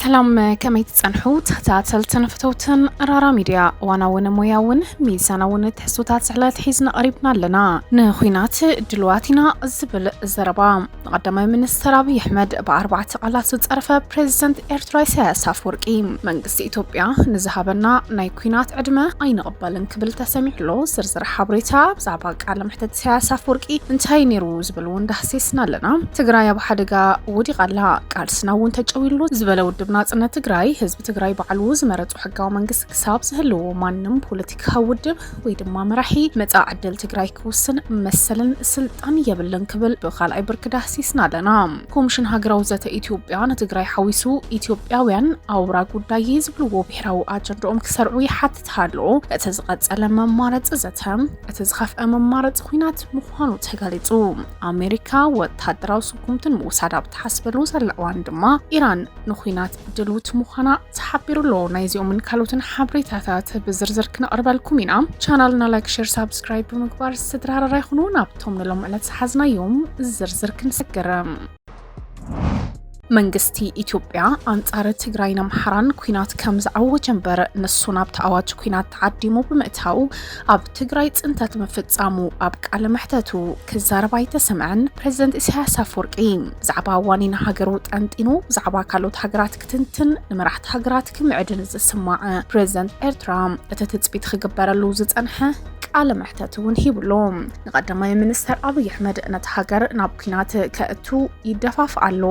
ሰላም ከመይ ትጸንሑ ተኸታተልትን ፍተውትን ራራ ሚድያ እዋናውን ሞያውን ሚዛናውን ትሕዝቶታት ዝሕለት ሒዝና ቀሪብና ኣለና ንኩናት ድልዋት ኢና ዝብል ዘረባ ንቀዳማይ ሚኒስትር ኣብይ ኣሕመድ ብኣርባዕተ ቃላት ዝፀርፈ ፕሬዚደንት ኤርትራ ኢሳያስ ኣፈወርቂ መንግስቲ ኢትዮጵያ ንዝሃበና ናይ ኩናት ዕድመ ኣይንቕበልን ክብል ተሰሚዑ ኣሎ። ዝርዝር ሓበሬታ ብዛዕባ ቃለ መሕተት ኢሳያስ ኣፈወርቂ እንታይ ነይሩ ዝብል እውን ዳህሲስና ኣለና። ትግራይ ኣብ ሓደጋ ወዲቓ ኣላ፣ ቃልስና እውን ተጨውይሉ ዝበለ ውድብ ናጽነት ትግራይ ህዝቢ ትግራይ ባዕሉ ዝመረፆ ሕጋዊ መንግስቲ ክሳብ ዝህልዎ ማንም ፖለቲካዊ ውድብ ወይ ድማ መራሒ መጻእ ዕድል ትግራይ ክውስን መሰልን ስልጣን የብልን ክብል ብካልኣይ ብርኪ ዳህሲስና ኣለና። ኮሚሽን ሃገራዊ ዘተ ኢትዮጵያ ንትግራይ ሓዊሱ ኢትዮጵያውያን ኣውራ ጉዳይ ዝብልዎ ብሔራዊ ኣጀንድኦም ክሰርዑ ይሓትት ሃሎ እቲ ዝቐጸለ መማረፂ ዘተ እቲ ዝኸፍአ መማረፂ ኩናት ምዃኑ ተገሊጹ። ኣሜሪካ ወታደራዊ ስጉምትን ምውሳድ ኣብ ትሓስበሉ ዘላ እዋን ድማ ኢራን ንኩናት ድልውቲ ምዃና ተሓቢሩ ኣሎ። ናይዚኦምን ካልኦትን ሓበሬታታት ብዝርዝር ክነቕርበልኩም ኢና። ቻናልና ላይክ፣ ሼር፣ ሳብስክራይብ ብምግባር ስድራ ሃረራ ይኹኑ። ናብቶም ንሎም ዕለት ዝሓዝናዮም ዝርዝር ክንሰገርም መንግስቲ ኢትዮጵያ ኣንጻር ትግራይን ኣምሓራን ኩናት ከም ዝኣወጀ እምበር ንሱ ናብቲ ኣዋጅ ኩናት ተዓዲሙ ብምእታው ኣብ ትግራይ ፅንተት ምፍፃሙ ኣብ ቃለ መሕተቱ ክዛረብ ኣይተሰምዐን። ፕሬዝደንት ኢሳያስ ኣፈወርቂ ብዛዕባ ዋኒን ሃገሩ ጠንጢኑ ብዛዕባ ካልኦት ሃገራት ክትንትን ንመራሕቲ ሃገራት ክምዕድን ዝስማዕ ፕሬዝደንት ኤርትራ እቲ ትፅቢት ክግበረሉ ዝፀንሐ ቃለ መሕተት እውን ሂብሉ። ንቀዳማይ ሚኒስተር ኣብይ ኣሕመድ ነቲ ሃገር ናብ ኩናት ከእቱ ይደፋፍ ኣሎ።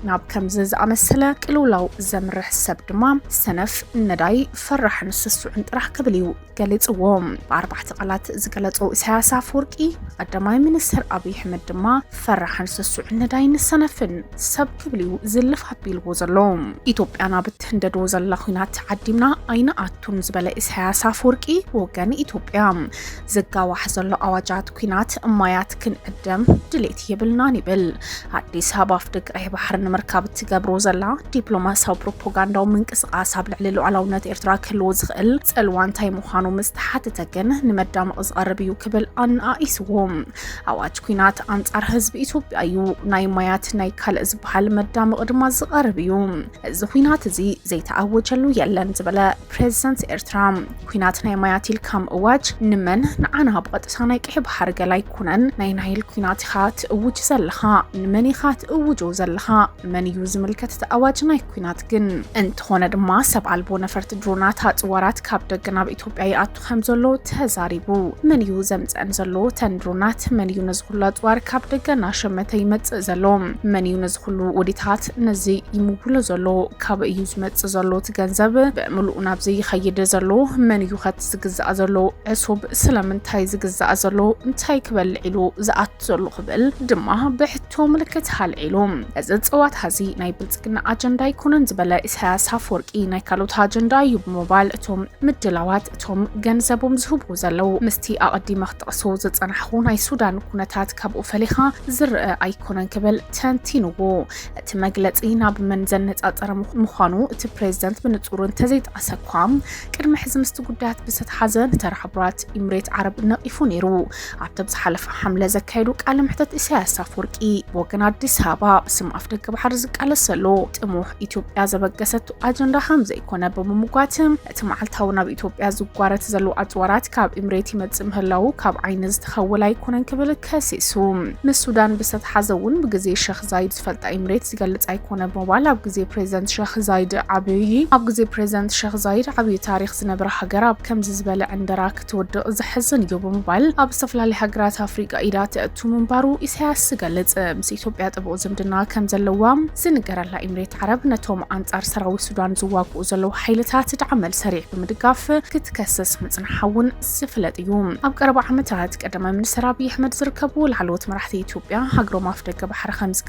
ናብ ከምዚ ዝኣመሰለ ቅልውላው ዘምርሕ ሰብ ድማ ሰነፍ፣ ነዳይ፣ ፈራሕን ስሱዕን ጥራሕ ክብል እዩ ገሊጽዎ። ብኣርባዕተ ቃላት ዝገለጾ ኢሳያስ ኣፈወርቂ ቀዳማይ ሚኒስትር ኣብይ ኣሕመድ ድማ ፈራሕን ስሱዕን ነዳይን ሰነፍን ሰብ ክብል እዩ ዝልፍ ኣቢልዎ ዘሎ። ኢትዮጵያ ናብ እትህንደዶ ዘላ ኩናት ተዓዲምና ኣይንኣቱን ዝበለ ኢሳያስ ኣፈወርቂ ብወገን ኢትዮጵያ ዝጋዋሕ ዘሎ ኣዋጃት ኩናት ማያት ክንዕደም ድሌት የብልናን ይብል። ኣዲስ ኣበባ ኣፍደገ ቀይሕ ባሕሪ ንምርካብ እትገብሮ ዘላ ዲፕሎማሲያዊ ፕሮፓጋንዳዊ ምንቅስቓስ ኣብ ልዕሊ ሉዓላውነት ኤርትራ ክህልዎ ዝኽእል ጽልዋ እንታይ ምዃኑ ምስ ተሓተተ ግን ንመዳመቒ ዝቐርብ እዩ ክብል ኣነኣኢስዎ። ኣዋጅ ኩናት ኣንጻር ህዝቢ ኢትዮጵያ እዩ፣ ናይ ማያት ናይ ካልእ ዝበሃል መዳመቒ ድማ ዝቐርብ እዩ። እዚ ኩናት እዚ ዘይተኣወጀሉ የለን ዝበለ ፕሬዚደንት ኤርትራ ኩናት ናይ ማያት ኢልካ ምእዋጅ ንመን ንዓና ብቐጥታ ናይ ቀሒ ባሕሪ ገላ ኣይኮነን ናይ ናይል ኩናት ኢኻ ትእውጅ ዘለኻ ንመን ኢኻ ትእውጆ ዘለኻ ንመን እዩ ዝምልከት እቲ ኣዋጅ ናይ ኩናት ግን እንተኾነ ድማ ሰብ ኣልቦ ነፈርቲ ድሮናት ኣፅዋራት ካብ ደገ ናብ ኢትዮጵያ ይኣቱ ከም ዘሎ ተዛሪቡ። መን እዩ ዘምጸን ዘሎ ተን ድሮናት? መን እዩ ነዚ ኩሉ ኣጽዋር ካብ ደገ እናሸመተ ይመጽእ ዘሎ? መን እዩ ነዚ ኩሉ ውዲታት ነዚ ይምውሎ ዘሎ? ካበይ እዩ ዝመጽእ ዘሎ እቲ ገንዘብ ብምሉኡ ናብዚ ይኸይድ ዘሎ? መን እዩ ከቲ ዝግዛእ ዘሎ ዕሱብ ስለምንታይ ዝግዛእ ዘሎ? እንታይ ክበልዕ ኢሉ ዝኣቱ ዘሎ ክብል ድማ ብሕቶ ቶ ምልክት ሃልዒሉ እዚ ፅዋት ሀዚ ናይ ብልፅግና ኣጀንዳ ኣይኮነን ዝበለ ኢሳያስ ኣፈወርቂ ናይ ካልኦት ኣጀንዳ እዩ ብምባል እቶም ምድላዋት እቶም ገንዘቦም ዝህቡ ዘለው ምስቲ ኣቐዲመ ክጠቕሶ ዝፀናሕኹ ናይ ሱዳን ኩነታት ካብኡ ፈሊኻ ዝረአ ኣይኮነን ክብል ተንቲንዎ እቲ መግለፂ ናብ መን ዘነፃፀረ ምዃኑ እቲ ፕሬዝደንት ብንፁር እንተዘይጠቐሰ እኳ ቅድሚ ሕዚ ምስቲ ጉዳያት ብዝተተሓዘ ንተራ ሕቡራት ኢምሬት ዓረብ ነቒፉ ነይሩ ኣብቲ ዝሓለፈ ሓምለ ዘካየዱ ቃለ መሕተት ኢሳያስ ኣፈወርቂ ብወገን ኣዲስ ኣበባ ብስም ኣፍደገ ባሕሪ ዝቃለስ ዘሎ ጥሙሕ ኢትዮጵያ ዘበገሰቱ ኣጀንዳ ከም ዘይኮነ ብምምጓትም እቲ መዓልታዊ ናብ ኢትዮጵያ ዝጓረት ዘሎ ኣጽዋራት ካብ ኢምሬት ይመጽእ ምህላዉ ካብ ዓይኒ ዝተኸወለ ኣይኮነን ክብል ከሲሱ ምስ ሱዳን ብዝተተሓዘ እውን ብግዜ ሸኽ ዛይድ ዝፈልጣ ኢምሬት ዝገልጽ ኣይኮነ ብምባል ኣብ ግዜ ፕሬዚደንት ሸኽ ዛይድ ዓብዪ ኣብ ግዜ ፕሬዚደንት ሸኽ ዛይድ ዓብዪ ታሪክ ዝነበረ ሃገር ኣብ ከምዚ ዝበለ ዕንደራ ትውድቕ ዘሕዝን እዩ ብምባል ኣብ ዝተፈላለዩ ሃገራት ኣፍሪቃ ኢዳ ተእቱ ምንባሩ ኢሳያስ ዝገልጽ ምስ ኢትዮጵያ ጥቡቕ ዝምድና ከም ዘለዋ ዝንገረላ ኢምሬት ዓረብ ነቶም ኣንጻር ሰራዊት ሱዳን ዝዋግኡ ዘለዉ ሓይልታት ድዓ መልሰሪዕ ብምድጋፍ ክትከስስ ምጽንሓ እውን ዝፍለጥ እዩ። ኣብ ቀረባ ዓመታት ቀዳማይ ሚኒስተር ኣብይ ኣሕመድ ዝርከቡ ላዕለዎት መራሕቲ ኢትዮጵያ ሃገሮም ኣፍደገ ባሕሪ ከም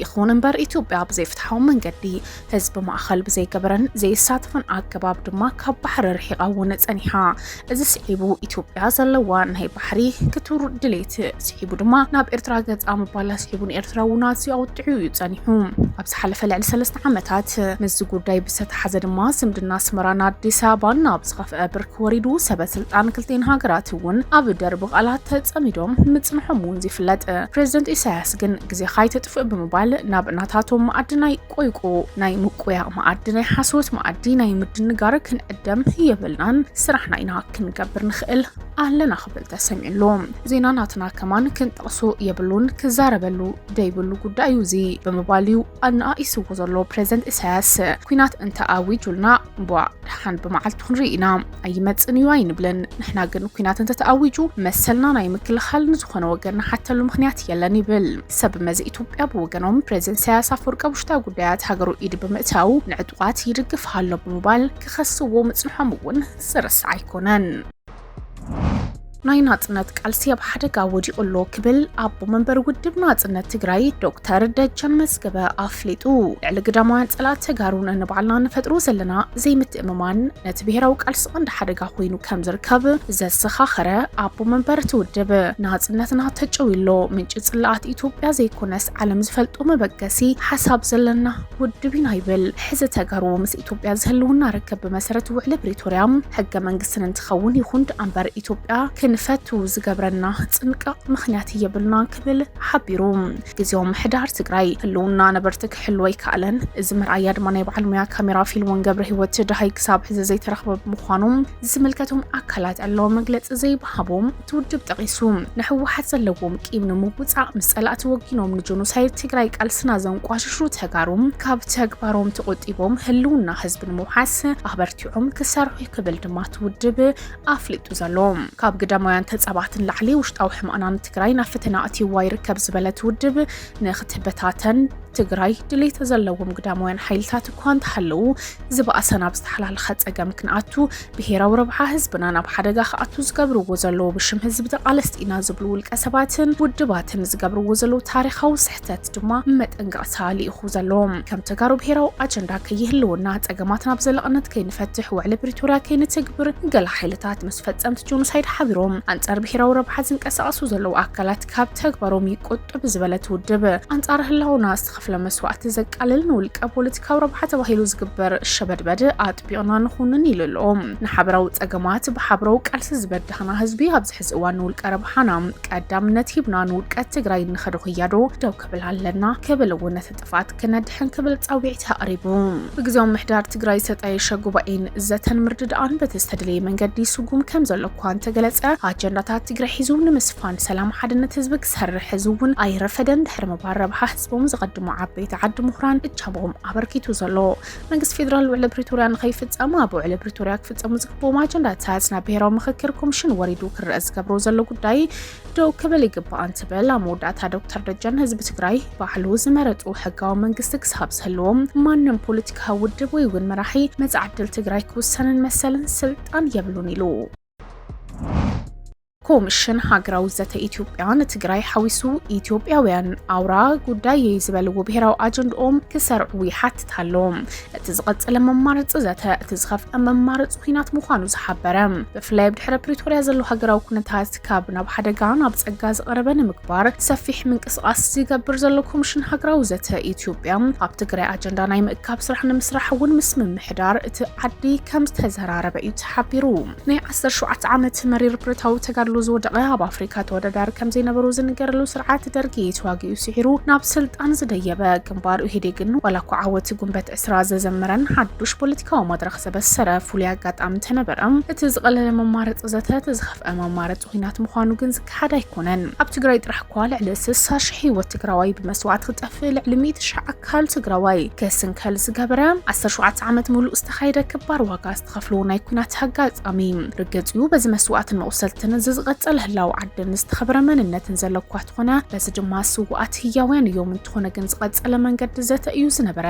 ይኹን እምበር ኢትዮጵያ ብዘይፍትሓዊ መንገዲ ህዝቢ ማእኸል ብዘይገበረን ዘይሳተፈን ኣገባብ ድማ ካብ ባሕሪ ርሒቓ እውን ጸኒሓ። እዚ ስዒቡ ኢትዮጵያ ዘለዋ ናይ ባሕሪ ክቱር ድሌት ስዒቡ ድማ ናብ ኤርትራ ገጻ ምባላ ስዒቡ ንኤርትራ እውን ኣዝዩ ኣውጢዑ እዩ ጸኒሑ። ኣብ ዝሓለፈ ልዕሊ ሰለስተ ዓመታት ምስዚ ጉዳይ ብዝተተሓዘ ድማ ዝምድና ኣስመራን ኣዲስ ኣበባን ናብ ዝኸፍአ ብርኪ ወሪዱ ሰበ ስልጣን ክልቴን ሃገራት እውን ኣብ ደርቢ ቃላት ተጸሚዶም ምጽንሖም እውን ዝፍለጥ ፕሬዚደንት ኢሳያስ ንስኻስ ግን ግዜኻ ኣይተጥፍእ ብምባል ናብ ናታቶም መኣዲ ናይ ቆይቁ ናይ ምቁያቕ መኣዲ ናይ ሓሶት መኣዲ ናይ ምድንጋር ክንዕደም የብልናን ስራሕና ኢና ክንገብር ንኽእል ኣለና ክብል ተሰሚዑ ኣሎ ዜና ናትና ከማን ክንጠቕሶ የብሉን ክዛረበሉ ደይብሉ ጉዳይ እዩ እዚ ብምባል እዩ ኣነኣኢስዎ ዘሎ ፕሬዚደንት ኢሳያስ ኩናት እንተ ኣዊጁልና እምቧ ደሓን ብመዓልቱ ክንርኢ ኢና ኣይመፅን እዩ ኣይንብልን። ንሕና ግን ኩናት እንተተኣዊጁ መሰልና ናይ ምክልኻል ንዝኾነ ወገን ንሓተሉ ምክንያት የለን ይብል። ሰብ መዚ ኢትዮጵያ ብወገኖም ፕሬዝደንት ኢሳያስ ኣፈወርቂ ኣብ ውሽጣዊ ጉዳያት ሃገሩ ኢድ ብምእታው ንዕጡቓት ይድግፍ ኣሎ ብምባል ክኸስዎ ምፅንሖም እውን ዝርሳዕ ኣይኮነን። ናይ ናጽነት ቃልሲ ኣብ ሓደጋ ወዲቑ ኣሎ ክብል ኣቦ መንበር ውድብ ናጽነት ትግራይ ዶክተር ደጀን መዝገበ ኣፍሊጡ። ልዕሊ ግዳማውያን ጸላእት ተጋሩ ነንባዕልና ንፈጥሮ ዘለና ዘይምትእምማን ነቲ ብሄራዊ ቃልሲ ቀንዲ ሓደጋ ኮይኑ ከም ዝርከብ ዘዘኻኸረ ኣቦ መንበር እቲ ውድብ ናጽነትና ተጨውዩ ኣሎ፣ ምንጪ ጽላኣት ኢትዮጵያ ዘይኮነስ ዓለም ዝፈልጦ መበገሲ ሓሳብ ዘለና ውድብ ኢና ይብል። ሕዚ ተጋሩ ምስ ኢትዮጵያ ዝህልውና ርክብ ብመሰረት ውዕሊ ፕሪቶርያ ሕገ መንግስቲ ስን እንትኸውን ይኹን ድኣምበር ኢትዮጵያ ክንፈቱ ዝገብረና ፅንቃቕ ምኽንያት የብልናን ክብል ሓቢሩ። ግዝያዊ ምምሕዳር ትግራይ ህልውና ነበርቲ ክሕሉ ኣይከኣለን፣ እዚ መርኣያ ድማ ናይ በዓል ሙያ ካሜራ ፊልሞን ገብረሂወት ደሃይ ክሳብ ሕዚ ዘይተረኽበ ብምዃኑ ዝምልከቶም ኣካላት ዕላዊ መግለፂ ዘይምሃቦም እቲ ውድብ ጠቒሱ፣ ንህወሓት ዘለዎም ቂም ንምውፃእ ምስ ፀላእቲ ወጊኖም ንጆኖሳይድ ትግራይ ቃልስና ዘንቋሽሹ ተጋሩ ካብ ተግባሮም ተቖጢቦም ህልውና ህዝቢ ንምውሓስ ኣበርቲዖም ክሰርሑ ክብል ድማ እቲ ውድብ ኣፍሊጡ ዘሎ። ካብ ግዳማውያን ተፃባእቲ ንላዕሊ ውሽጣዊ ሕመቕና ንትግራይ ናብ ፈተና ኣእትይዋ ይርከብ ዝበለ እቲ ውድብ ንክትበታተን ትግራይ ድሌት ዘለዎም ግዳማውያን ሓይልታት እኳ እንተሃለዉ ዝበኣሰ ናብ ዝተሓላለኸ ፀገም ክንኣቱ ብሄራዊ ረብሓ ህዝብና ናብ ሓደጋ ክኣቱ ዝገብርዎ ዘለዉ ብሽም ህዝቢ ተቓለስቲ ኢና ዝብሉ ውልቀ ሰባትን ውድባትን ዝገብርዎ ዘለዉ ታሪኻዊ ስሕተት ድማ መጠንቀቕታ ልኢኹ ዘሎ። ከም ተጋሩ ብሄራዊ ኣጀንዳ ከይህልወና፣ ፀገማትና ብዘላቕነት ከይንፈትሕ፣ ውዕሊ ፕሪቶርያ ከይንትግብር ገለ ሓይልታት ምስ ፈፀምቲ ጆኖሳይድ ሓቢሮም ኣንፃር ብሄራዊ ረብሓ ዝንቀሳቐሱ ዘለዉ ኣካላት ካብ ተግባሮም ይቆጠቡ ዝበለት ውድብ ኣንፃር ህላወና ዝተኸፍለ መስዋእቲ ዘቃልል ንውልቀ ፖለቲካዊ ረብሓ ተባሂሉ ዝግበር ሸበድበድ ቢቕና ንኹንን ኢሉ ኣሎ። ንሓበራዊ ጸገማት ብሓብረዊ ቃልሲ ዝበዳህና ህዝቢ ኣብዚ ሕዚ እዋን ንውልቀ ረብሓና ቀዳምነት ሂብና ንውድቀት ትግራይ እንኸዶ ክያዶ ደው ክብል ኣለና ክብል እውን ነቲ ጥፍኣት ክነድሕን ክብል ጻውዒት ኣቕሪቡ። ብግዜያዊ ምምሕዳር ትግራይ ዝተጣየሸ ጉባኤን ዘተን ምርድዳኣን በቲ ዝተደለየ መንገዲ ይስጉም ከም ዘሎ እኳ እንተገለጸ ኣጀንዳታት ትግራይ ሒዙ ንምስፋን ሰላም ሓድነት ህዝቢ ክሰርሕ ሕዚ እውን ኣይረፈደን ድሕሪ ምባል ረብሓ ህዝቦም ዘቐድሙ ዓበይቲ ዓዲ ምሁራን እጃሞኦም ኣበርኪቱ ዘሎ መንግስቲ ፌዴራል ውዕሊ ፕሪቶርያ ንከይፍፀም ኣብ ውዕሊ ፕሪቶርያ ክፍፀሙ ዝግብኦም ኣጀንዳታት ናብ ብሄራዊ ምክክር ኮሚሽን ወሪዱ ክረአ ዝገብሮ ዘሎ ጉዳይ ደው ክብል ይግባእ እንትብል ኣብ መወዳእታ ዶክተር ደጀን ህዝቢ ትግራይ ባዕሉ ዝመረጡ ሕጋዊ መንግስቲ ክሳብ ዝህልዎም ማንም ፖለቲካዊ ውድብ ወይ እውን መራሒ መፃ ዕድል ትግራይ ክውሰንን መሰልን ስልጣን የብሉን ኢሉ ኮምሽን ሃገራዊ ዘተ ኢትዮጵያ ንትግራይ ሓዊሱ ኢትዮጵያውያን ኣውራ ጉዳየይ ዝበልዎ ብሄራዊ ኣጀንድኦም ክሰርዑ ይሓትት ኣሎ። እቲ ዝቐፀለ መማረፂ ዘተ እቲ ዝኸፍአ መማረፂ ኩናት ምዃኑ ዝሓበረ ብፍላይ ኣብ ድሕረ ፕሪቶርያ ዘሎ ሃገራዊ ኩነታት ካብ ናብ ሓደጋ ናብ ፀጋ ዝቐረበ ንምግባር ሰፊሕ ምንቅስቓስ ዝገብር ዘሎ ኮምሽን ሃገራዊ ዘተ ኢትዮጵያ ኣብ ትግራይ ኣጀንዳ ናይ ምእካብ ስራሕ ንምስራሕ እውን ምስ ምምሕዳር እቲ ዓዲ ከም ዝተዘራረበ እዩ ተሓቢሩ። ናይ ዓሰርተ ሸውዓተ ዓመት መሪር ብረታዊ ተጋድሎ ዝወደቐ ኣብ ኣፍሪካ ተወዳዳሪ ከምዘይነበሮ ዝንገረሉ ስርዓት ደርጊ ተዋጊኡ ስዒሩ ናብ ስልጣን ዝደየበ ግንባር ኡሄዴግን ዋላ እኳ ዓወት ጉንበት ዕስራ ዘዘመረን ሓዱሽ ፖለቲካዊ መድረኽ ዘበሰረ ፍሉይ ኣጋጣሚ ተነበረ እቲ ዝቐለለ መማረፂ ዘተ እቲ ዝኸፍአ መማረፂ ኩናት ምዃኑ ግን ዝከሓድ ኣይኮነን። ኣብ ትግራይ ጥራሕ እኳ ልዕሊ ስሳ ሽሕ ህይወት ትግራዋይ ብመስዋእቲ ክጠፍእ ልዕሊ ሚእቲ ሽሕ ኣካል ትግራዋይ ክስንከል ዝገበረ ዓሰርተ ሸውዓተ ዓመት ሙሉእ ዝተኻየደ ክባር ዋጋ ትኸፍልዎ ናይ ኩናት ኣጋጣሚ ርግጽ እዩ። በዚ መስዋእትን መቑሰልትን እዚ ዝቐጸለ ህላወ ዓድን ዝተኸበረ መንነትን ዘሎ እኳ ተኾነ በዚ ድማ ስውኣት ህያውያን እዮም። እንተኾነ ግን ዝቐጸለ መንገዲ ዘተ እዩ ዝነበረ።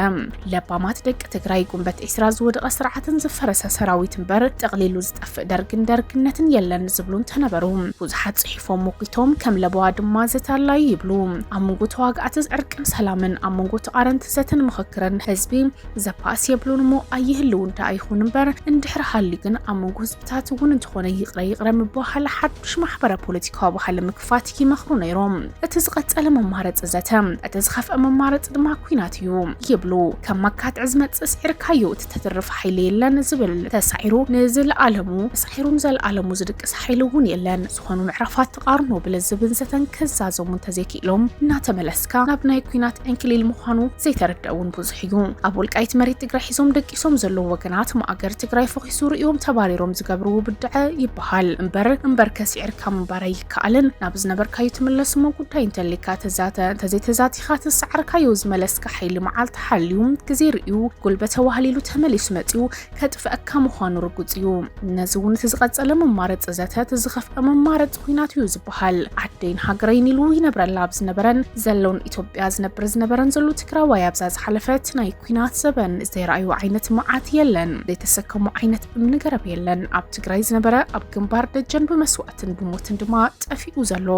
ለባማት ደቂ ትግራይ ጉንበት ዒስራ ዝወደቐ ስርዓትን ዝፈረሰ ሰራዊት እምበር ጠቕሊሉ ዝጠፍእ ደርግን ደርግነትን የለን ዝብሉ እንተነበሩ ብዙሓት ጽሒፎም ሞጒቶም ከም ለበዋ ድማ ዘተ ኣላዩ ይብሉ። ኣብ መንጎ ተዋጋእቲ ዕርቅን ሰላምን፣ ኣብ መንጎ ተቓረንቲ ዘተን ምኽክርን ህዝቢ ዘፓስ የብሉን እሞ ኣይህልውን ደኣ ይኹን እምበር እንድሕር ሃልዩ ግን ኣብ መንጎ ህዝብታት እውን እንተኾነ ይቕረ ይቕረ ምብሃል ሓዱሽ ማሕበረ ፖለቲካዊ ባህሊ ምክፋት ይመኽሩ ነይሮም። እቲ ዝቐጸለ መማረጺ ዘተ፣ እቲ ዝኸፍአ መማረጺ ድማ ኩናት እዩ ይብሉ። ከም ማካትዕ ዝመጽእ ስዒርካዮ እትተትርፍ ሓይሊ የለን ዝብል ተሳዒሩ ንዝልኣለሙ ተሳዒሩ ንዘልኣለሙ ዝድቅስ ሓይሊ እውን የለን። ትኾኑ ምዕራፋት ትቓርኑ ብልዝብን ዘተን ክዛዘሙ እንተዘይክኢሎም እናተመለስካ ናብ ናይ ኩናት ዕንክሊል ምዃኑ ዘይተረድአ እውን ብዙሕ እዩ። ኣብ ወልቃይት መሬት ትግራይ ሒዞም ደቂሶም ዘለዉ ወገናት ማእገር ትግራይ ፈኺሱ ርእዮም ተባሪሮም ዝገብርዎ ብድዐ ይበሃል እምበር እምበርከ ስዒርካ ምንባር ኣይከኣልን። ናብ ዝነበርካዩ ትምለስ እሞ ጉዳይ እንተልዩካ ተዛተ እንተዘይተዛቲኻ ትሰዓርካዮ ዝመለስካ ሓይሊ መዓልቲ ሓልዩ ግዜ ርእዩ ጉልበት ተዋህሊሉ ተመሊሱ መፂኡ ከጥፍኣካ ምዃኑ ርጉጽ እዩ። ነዚ እውን እቲ ዝቐጸለ መማረጺ ዘተ እቲ ዝኸፍኣ መማረጺ ኹናት እዩ ዝበሃል። ዓደይን ሃገረይን ኢሉ ይነብረላ ኣብ ዝነበረን ዘሎን ኢትዮጵያ ዝነብር ዝነበረን ዘሎ ትግራዋይ ኣብዛ ዝሓለፈት ናይ ኲናት ዘበን ዘይረኣዮ ዓይነት መዓት የለን፣ ዘይተሰከሞ ዓይነት እምኒ ገረብ የለን። ኣብ ትግራይ ዝነበረ ኣብ ግንባር ደጀን ብመስዋእቲ ብስደትን ብሞትን ድማ ጠፊኡ ዘሎ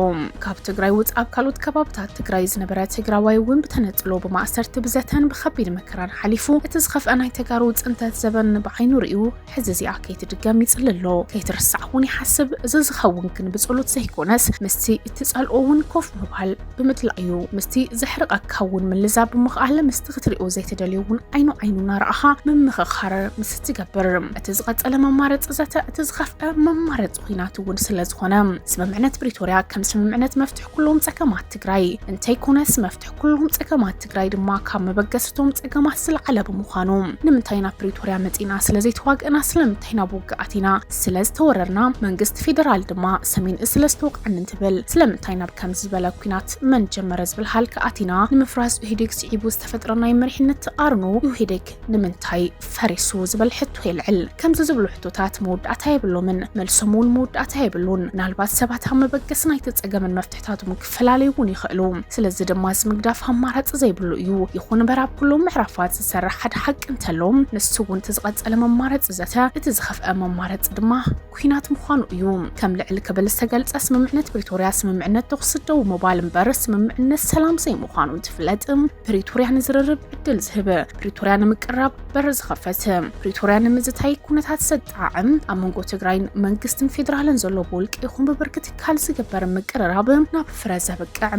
ካብ ትግራይ ውፅ ኣብ ካልኦት ከባብታት ትግራይ ዝነበረ ትግራዋይ እውን ብተነፅሎ ብማእሰርቲ ብዘተን ብከቢድ መከራን ሓሊፉ እቲ ዝኸፍአ ናይ ተጋሩ ፅንተት ዘበን ብዓይኑ ርእዩ ሕዚ እዚኣ ከይትድገም ይፅሊ ኣሎ ከይትርሳዕ እውን ይሓስብ እዚ ዝኸውን ግን ብፀሎት ዘይኮነስ ምስቲ እትፀልኦ እውን ኮፍ ምባል ብምድላእ እዩ ምስቲ ዘሕርቐካ እውን ምልዛብ ብምኽኣል ምስቲ ክትሪኦ ዘይትደልዮ እውን ዓይኑ ዓይኑ እናረኣኻ ምምኽኻር ምስ እትገብር እቲ ዝቐፀለ መማረፂ ዘተ እቲ ዝኸፍአ መማረፂ ኩናት እውን ስለዝኾነ ስምምዕነት ፕሪቶርያ ከም ስምምዕነት መፍትሒ ኩሎም ፀገማት ትግራይ እንተይኮነስ መፍትሒ ኩሎም ፀገማት ትግራይ ድማ ካብ መበገስቶም ፀገማት ዝለዓለ ብምዃኑ ንምንታይ ናብ ፕሪቶርያ መፂና ስለዘይተዋግእና ስለምንታይ ናብ ውግኣት ኢና ስለዝተወረርና መንግስቲ ፌደራል ድማ ሰሜን እዝ ስለዝተወቅዐኒ እንትብል ስለምንታይ ናብ ከምዚ ዝበለ ኩናት መን ጀመረ ዝብል ሃልኪ ኣቲና ንምፍራስ ኢህዴግ ስዒቡ ዝተፈጥረ ናይ መሪሕነት ተቃርኖ ኢህዴግ ንምንታይ ፈሪሱ ዝብል ሕቶ የልዕል። ከምዚ ዝብሉ ሕቶታት መወዳእታ የብሎምን፣ መልሶም እውን መወዳእታ የብሉን። ምናልባት ሰባት ኣብ መበገሲ ናይቲ ጸገምን መፍትሕታቱን ክፈላለዩ እውን ይኽእሉ። ስለዚ ድማ እዚ ምግዳፍ ኣማራጺ ዘይብሉ እዩ። ይኹን እምበር ኣብ ኩሎም ምዕራፋት ዝሰርሕ ሓደ ሓቂ እንተሎ ንሱ እውን እቲ ዝቐጸለ መማረጺ ዘተ፣ እቲ ዝኸፍኣ መማረጺ ድማ፣ ኲናት ምዃኑ እዩ። ከም ልዕል ክብል ዝተገልጸ ስምምዕነት ፕሪቶርያ ስምምዕነት ተኹሲ ደው ምባል እምበር ስምምዕነት ሰላም ዘይምዃኑ እንትፍለጥ ፕሪቶርያ ንዝርርብ ዕድል ዝህብ፣ ፕሪቶርያ ንምቅራብ በር ዝኸፈት፣ ፕሪቶርያ ንምዝታይ ኩነታት ዘጣዕም፣ ኣብ መንጎ ትግራይን መንግስትን ፌደራልን ዘሎ ብውልቂ ይኹን ብብርኪ ትካል ዝግበር ምቅርራብ ናብ ፍረ ዘብቅዕ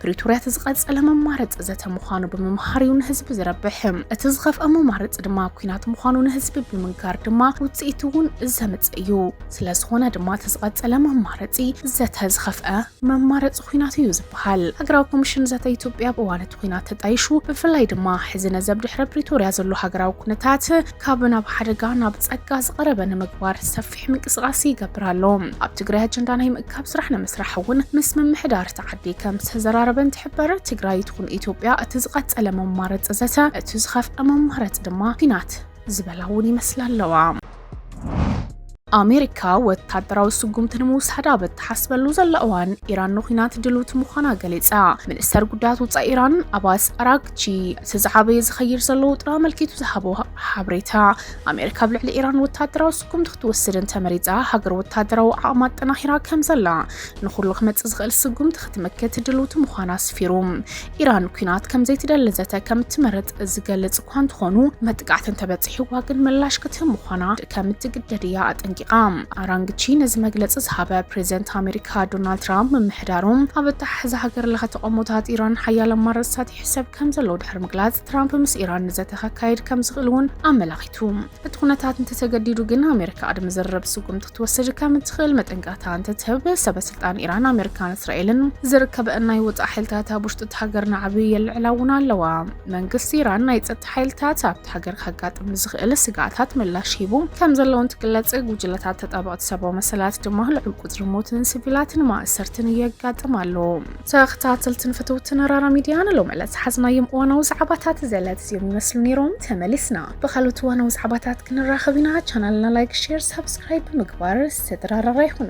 ፕሪቶርያ እቲ ዝቐጸለ መማረፂ ዘተ ምዃኑ ብምምሃር እዩ ንህዝቢ ዝረብሕ። እቲ ዝኸፍአ መማረፂ ድማ ኩናት ምዃኑ ንህዝቢ ብምንጋር ድማ ውፅኢት እውን ዘምፅእ እዩ። ስለዝኾነ ድማ እቲ ዝቐጸለ መማረፂ ዘተ ዝኸፍአ መማረፂ ኩናት እዩ ዝበሃል። ሃገራዊ ኮሚሽን ዘተ ኢትዮጵያ ኣብ እዋን እቲ ኩናት ተጣይሹ ብፍላይ ድማ ሕዚ ነዘብ ድሕረ ፕሪቶርያ ዘሎ ሃገራዊ ኩነታት ካብ ናብ ሓደጋ ናብ ጸጋ ዝቐረበ ንምግባር ሰፊ ሰፊሕ ምንቅስቃስ ይገብር ኣሎ። ኣብ ትግራይ ኣጀንዳ ናይ ምእካብ ስራሕ ንምስራሕ እውን ምስ ምምሕዳር እቲ ዓዲ ከም ዝተዘራረበ እንትሕበር፣ ትግራይ ትኹን ኢትዮጵያ እቲ ዝቐፀለ መማረፂ ዘተ፣ እቲ ዝኸፍኣ መማረፂ ድማ ኲናት ዝበላ እውን ይመስላ ኣለዋ። ኣሜሪካ ወታደራዊ ስጉምቲ ንምውሳድ ኣብ እትሓስበሉ ዘላ እዋን ኢራን ንኩናት ድልውቲ ምዃና ገሊጻ። ሚኒስተር ጉዳያት ወጻኢ ኢራን ኣባስ ኣራግቺ እቲ ዝዓበየ ዝኸይድ ዘሎ ውጥራ ኣመልኪቱ ዝሃቦ ሓበሬታ ኣሜሪካ ኣብ ልዕሊ ኢራን ወታደራዊ ስጉምቲ ክትወስድ እንተመሪፃ ሃገር ወታደራዊ ዓቕማ ኣጠናኺራ ከም ዘላ ንኹሉ ክመፅእ ዝኽእል ስጉምቲ ክትምክት ድልውቲ ምዃና ኣስፊሩ ኢራን ኩናት ከም ዘይትደሊ ዘተ ከም እትመርጥ ዝገልፅ እኳ እንተኾኑ መጥቃዕቲ እንተበፂሕዋ ግን ምላሽ ክትህብ ምዃና ከም እትግደድ እያ ኣጠንቂቓ። ኣራንግቺ ነዚ መግለፂ ዝሃበ ፕሬዚደንት ኣሜሪካ ዶናልድ ትራምፕ ምምሕዳሮም ኣብ ኣተሓሕዛ ሃገር ለኸ ተቓውሞታት ኢራን ሓያለ ኣማራፅታት ይሕሰብ ከም ዘሎ ድሕሪ ምግላፅ ትራምፕ ምስ ኢራን ንዘተ ከካይድ ከም ዝኽእል እውን ኣመላኺቱ። እቲ ኩነታት እንተተገዲዱ ግን ኣሜሪካ ቅድሚ ዝርርብ ስጉምቲ ክትወስድ ከም እትኽእል መጠንቀቕታ እንትትህብ፣ ሰበ ስልጣን ኢራን፣ ኣሜሪካን እስራኤልን ዝርከበአን ናይ ወጻኢ ሓይልታት ኣብ ውሽጢ እታ ሃገር ናዕቢ የልዕላ እውን ኣለዋ። መንግስቲ ኢራን ናይ ጸጥታ ሓይልታት ኣብቲ ሃገር ከጋጥም ንዝኽእል ስግኣታት ምላሽ ሂቡ ከም ዘሎ እንትግለጽ፣ ጉጅለታት ተጣበቕቲ ሰብኣዊ መሰላት ድማ ልዑል ቁጽሪ ሞትን ሲቪላትን ማእሰርትን የጋጥም ኣሎ። ተኽታተልትን ፍትውትን ራራ ሚድያ ንሎሚ ዕለት ዝሓዝናዮም እዋናዊ ዛዕባታት ዘለት እዚኦም ይመስሉ ነይሮም። ተመሊስና ብካልኦት እዋናዊ ዛዕባታት ክንራኸብ ኢና። ቻናልና ላይክ፣ ሼር፣ ሳብስክራይብ ብምግባር ስድራ ራራ ይኹኑ።